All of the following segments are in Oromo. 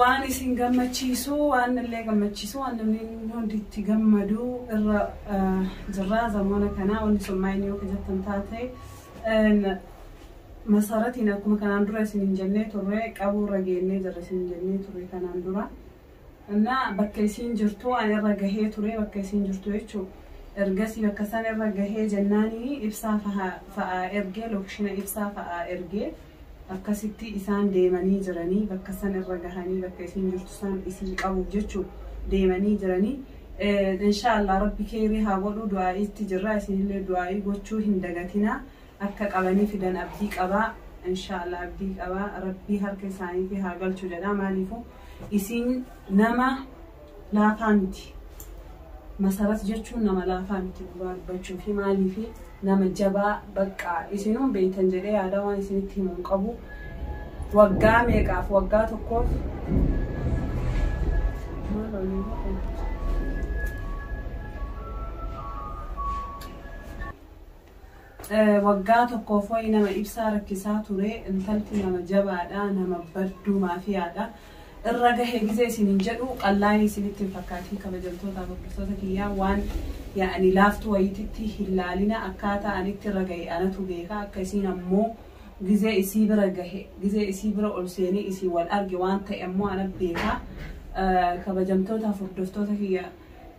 waan isin gammachiisu waan illee gammachiisu waan namni hundi itti gammadu irra eh, jirra zamoona kana wanti sun maayin yoo kajattan taate eh, masaratiin akkuma kanaan dura isin hin jennee turre qabuu irra geennee jirra isin hin jennee turre kanaan dura Anna bakka isiin jirtuu an irra gahee turee bakka isiin jirtuu jechuu ergasii bakka san irra gahee jennaanini ibsaa faha fa'aa ergee lokishina ibsaa fa'aa ergee akkasittii isaan deemanii jiranii bakka san irra gahanii bakka isiin jirtu san isii qabuuf jechuu deemanii jiranii inshaa Allah rabbi keeyrii haa godhuu du'aa'iitti jirraa isinillee du'aa'ii gochuu hin dagatinaa Akka qabanii fidan abdii qaba inshallah abdii qaba rabbii harka isaaniitii haa galchu jedha maaliifu isiin nama laafaa miti masarat jechuun nama laafaa miti dhugaa dubbachuufi maaliifi nama jabaa baqqa isinuun beeytan jedhee yaadaa waan isinitti himu hin qabu waggaa meeqaaf waggaa tokkoof maal olii godhe? Waggaa tokkoof wayi nama ibsaa rakkisaa ture intalti nama jabaadha nama badduu maafiyaadha irra gahe gizee isinin jedhu qallaayii isinitti hin fakkaatiin kabajamtootaaf hordoftoota kiyyaa waan yaani laaftu wayititti hin laalina akkaataa anitti irra gahe anatu beeka akka isiin ammoo gizee isii bira gahe gizee isii bira ol seenee isii wal arge waan ta'e ammoo ana beeka kabajamtootaaf hordoftoota kiyyaa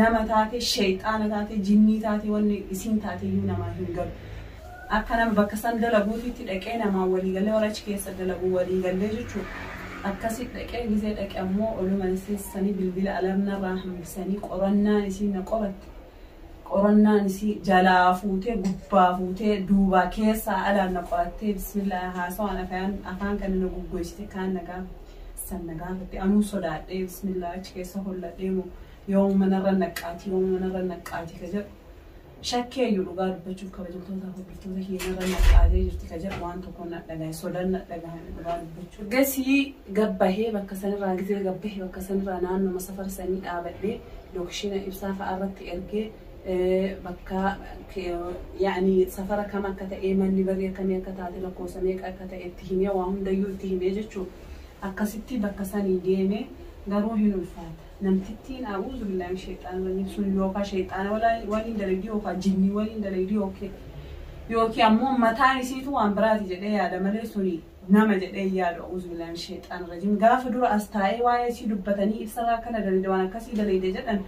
nama taate sheyxaana taate jinnii taate wanni isiin taateyyuu namaa hin galu akka nama bakka san dalaguutitti dhaqee namaan walii gallee warra achi keessa dalagu walii gallee jechuun akkasitti dhaqee gizee dhaqe ammoo oluma seessanii bilbila alarm narraa hambisanii qorannaan isiin na qoratte qorannaan isii jalaa fuutee gubbaa fuutee duubaa keessaa alaan na qorattee bismillaa haasawaan afaan kana na guggoysite kaan na gaafa San na gaafatti. Anuu sodaadhee bismillah achi keessa holladhee moo yooma manarra naqqaati yooma manarra naqqaati ka jedhu. Shakkeeyyu dhugaa dubbachuuf kabajamtoota hordoftoota keenyarra naqqaatee jirti ka jedhu waan tokko na dhagahe sodan na dhagahame dhugaa dubbachuuf. Gasii gabbahee bakka sanirraa gizee gabbahee bakka sanirraa naannoma safara sanii dhaabadhee lookishiina ibsaa fa'aa irratti ergee bakka yaani safara kam akka ta'ee manni barii akkamii akka taate lakkoofsa meeqa akka ta'e itti himee waa hundayyuu itti himee jechuu akkasittii bakka sanii deemee garuu hin ulfaata namtittiin a'uuzubillaah min sheyxaani rajiim sun yookaa sheyxaana waliin dalaydii yookaa jinnii waliin dalaydii yookiin ammoo mataan isiitu waan biraati jedhee yaada malee suni nama jedhee hin yaadu Auzubillahi min sheyxaani rajim gaafa dura as taa'ee waa'ee isii dubbatanii ibsa irraa akkana daleyde waan akkasii daleyde jedhan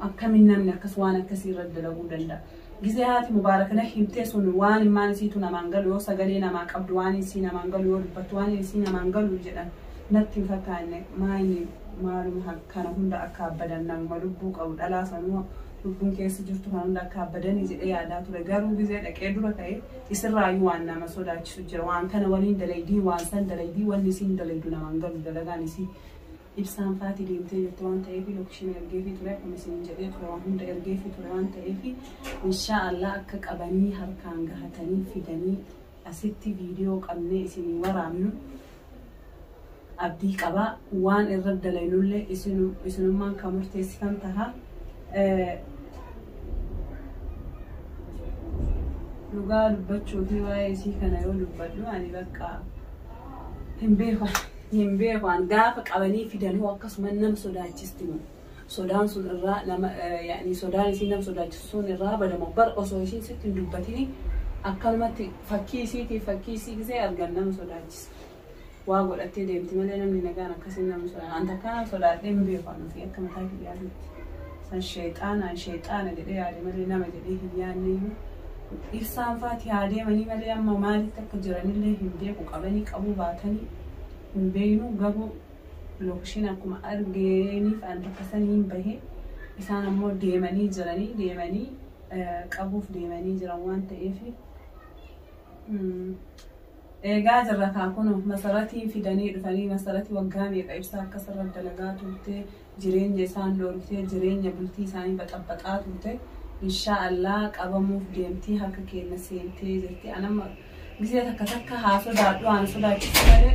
akkamin namni akkas waan akkasii irra dalaguu danda'a gizee haati mubaaraka na himtee sun waan immaan isiitu namaan galu yoo sagalee namaa qabdu waan isii namaan galu yoo dubbattu waan isii namaan galu jedhan natti hin fakkaanne maayni maaluma kana hunda akka abbadan namuma lubbuu qabu dhalaa sanuu lubbuun keessa jirtu kan hunda akka abbadanii jedhee yaadaa ture garuu gizee dhaqee dura ta'e Isirraayyuu waan nama sodaachisu jira. Waan kana waliin dalaydii, waan san dalaydii, wanni isiin dalaydu nama hin galu dalagaan isii. Ibsaan faati deemtee jirti waan ta'eef lokeshina ergeefii ture akkuma isiniin jedhee ture waan hunda ergeefii ture waan ta'eef inshaa Allah akka qabanii harkaan gahatanii fidanii asitti viidiyoo qabnee isinii waraabnu. abdii qaba. Waan irra dalaynulle isinu isinummaan ka murteessitan taha. Dhugaa dubbachuu fi waa'ee isii kana yoo dubbadhu ani bakka hin beeku. Hin beeku an gaafa qabanii fidan hoo akkasuma nam sodaachisti moo sodaan sun irraa nama yaani sodaan isii nam sodaachisu sun irraa badamo bar osoo isiin sitti hin dubbatini akkanumatti fakkii isiitii fakkii isii gisee argan nama sodaachisa. waa godhattee deemti malee namni nagaan akkasiin nama sodaata. An takkaa nama sodaadhee hin beeku an ofii akka mataa kiyyaatitti. San sheexaanaan sheexaana jedhee yaade malee nama jedhee hin yaanneyyuu. Ibsaan faati haa deemanii malee amma maalitti akka jiranillee hin beeku qabanii qabuu baatanii hin beeknu garuu lookishiin akkuma argeeniif an bakka saniin bahe isaan ammoo deemanii jiranii deemanii qabuuf deemanii jiran waan ta'eef. Eegaa jirra kaa kunoo masaratiin fidanii dhufanii masarati waggaa meeqa ibsaa akka sirra dalagaa turte jireenya isaan dhoorgitee jireenya bultii isaanii baxabaxaa turte inshaa Allah qabamuuf deemtii harka keenna seentee jirti anamma gisee takka takka haa sodaadhu haana sodaachisu malee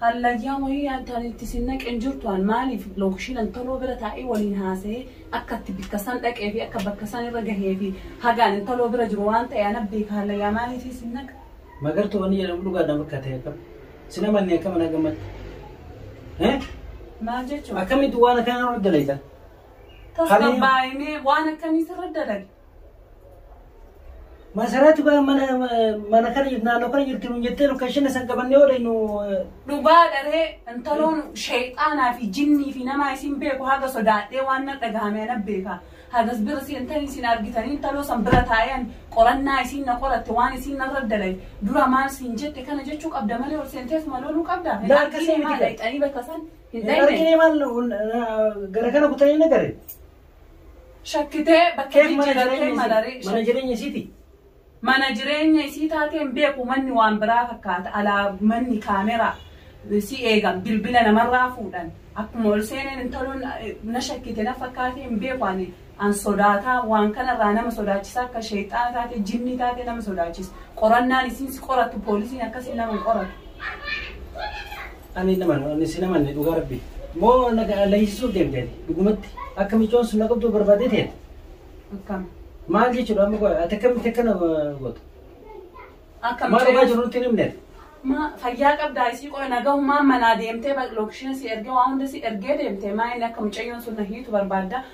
Hallayyaa wayii yaadda ani itti isin naqe hin jirtu an maaliif lookishiin an taloo bira taa'ee waliin haasa'ee akka itti bikka san dhaqee fi akka bakka san irra gahee fi haga an intaloo bira jiru waan ta'e ana beeka hallayyaa maaliif isin naqa. Magartuu wanni jedhamu dhugaa dhan fakkate akkam sin amanne akkam na gammatti. Eh? Maal jechuudha? Akkamitti waan akkanaa irra dalayta? Tasgabbaa'inee waan akkamii sirra dalage? Masaraatu gaa mana mana kana jirti naannoo kana jirti nuun jettee lokeeshina san qabannee oodee nu Dhugaa dharee intaloon sheexaanaa fi jinnii fi namaa isin beeku haga sodaadhee waan na dhagahame ana beeka. Hagas bira seentanii isin argitanii intaloo san bira taa'een qorannaa isin na qoratte waan isin narra dalay dura maal siin jette kana jechuu qabda malee ol seentees maloluu qabda. Hin Laakka argine seeniti maal gaa. dhaqxanii bakka san hin hin dhaqne. argine maal gara kana kutanii na gare. Shakkitee bakka Keef mana jijjiirattee jireenya isii. malaree Mana shakkitee. jireenya isiiti. Mana jireenya isii taatee hin beeku manni waan biraa fakkaata alaa manni kaameraa si eegan bilbila namarraa fuudhan akkuma ol seeneen intaloon eh, na shakkite na fakkaatee hin beeku ani an sodaataa waan kanarraa nama sodaachisaa akka sheexxaana taate jinnii taate nama sodaachisa qorannaan isiin si qoratu poolisiin akkasiin nama hin qoratu. Ani nama ani si nama ni dhugaa rabbi. Moo na leenjisuuf deemte dhugumatti akka micoon sun na qabdu barbaadee ta'e. Akkam. Maal jechuudha amma qofa ati akkamitti akkana gootu? Akkam. Maal dhugaa jiru nutti hin himne? Ma fayyaa qabdaa isii qofa nagahummaan manaa deemtee lookishiin si ergee waan hunda si ergee deemtee maa inni akka mucayyoon sun na hiitu barbaadda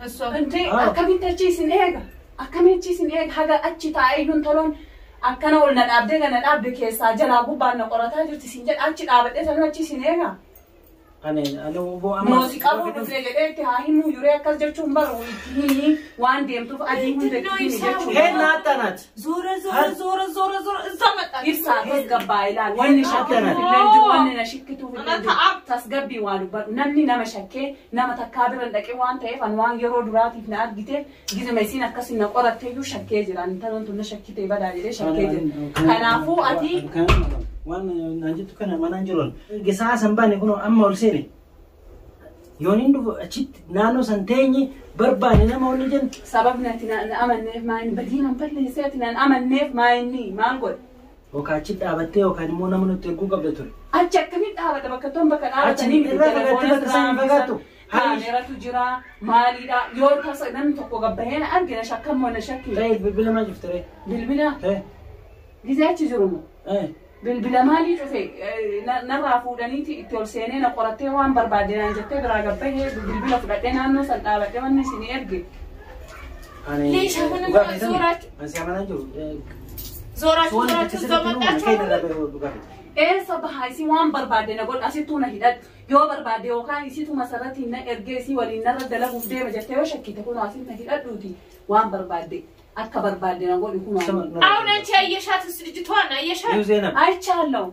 Wanti akkamitti achi isin eega? Akkamitti achi isin eega? Haga achi taa'ee iyyuu intaloon akkana ol na dhaabdee gana dhaabde keessaa jalaa gubbaan na qorataa jirti isin jedha achi dhaabadhee tanuu achi isin eega? Ani ani obbo amma. Mooti qabuu dhufne jedhee itti haa himuu yuree akkas jechuun baru itti himi waan deemtuuf adii hunda itti himi Heen jechuudha. naatta naati. Zoora zoora zoora zoora zoora isa maxxansa. Ibsaa tasgabbaa ilaali. Wanni shakkitu Akkana. illee hin jiru, wanni na shakkitu illee hin jiru. Tasgabbii waa dubbadhu. Namni nama shakkee Nama takkaa bira hin dhaqin waan ta'eef an waan yeroo duraatiif na argiteef gizima isiin akkasi na qoratte iyyuu shakkee jira. Intaloon tun na shakkitee badaa jedhee shakkee jira. Kanaafuu ati Waan naan jettu kana manaan jiruun. Gesaa san baane kunoo amma ol seene. Yoon hin dhufu achitti naannoo san teenye barbaane nama ol ni jenna. sababni ati na na amanneef maa inni badii nan balleessee ati nan amanneef maa inni maal godhe Yookaan achitti dhaabattee yookaan immoo nama nutti erguu qabda ture. Achi akkamitti dhaabata bakka ton bakka dhaabatanii miti irraa fagaattee telefoona bakka isaan hin irraa fagaattu. bisan Hayish. kaameratu jira maaliidha yoo tasa namni tokko gabbahee na arge na shakkan moo na shakki Ta'e bilbila maal cufte ree? bilbila Ta'e. gisee achi jiru moo Ta'e. bilbila maalii cufe Eh, na- narraa fuudhaniiti itti ol seenee na qorattee waan barbaadde naan jettee biraa gabbahee bilbila fudhadhee naannoo san dhaabadhee wanni isin erge Ani Leeshaa mana dhugaa keessan zooraachu- ani si amanaa jiru. Eh, Zooraachu Soon akka zooraachu sirriitti nuu mana kee irraa zoomaqaachuu. bahee dhugaa keessan. Eessa bahaa isin waan barbaadde na godha asittuu na hidhadhu. Yoo barbaadde yookaan isitu masarratiin na ergee isii waliin narra dalaguuf deema jettee yoo shakkite kun asiin na hidhadhuuti waan barbaadde akka barbaadde na godhi kun Sama- waan. Auna ce ayyasha ta sirji tuwa na ayyasha. Yuu Zeenab. Aychaallahu.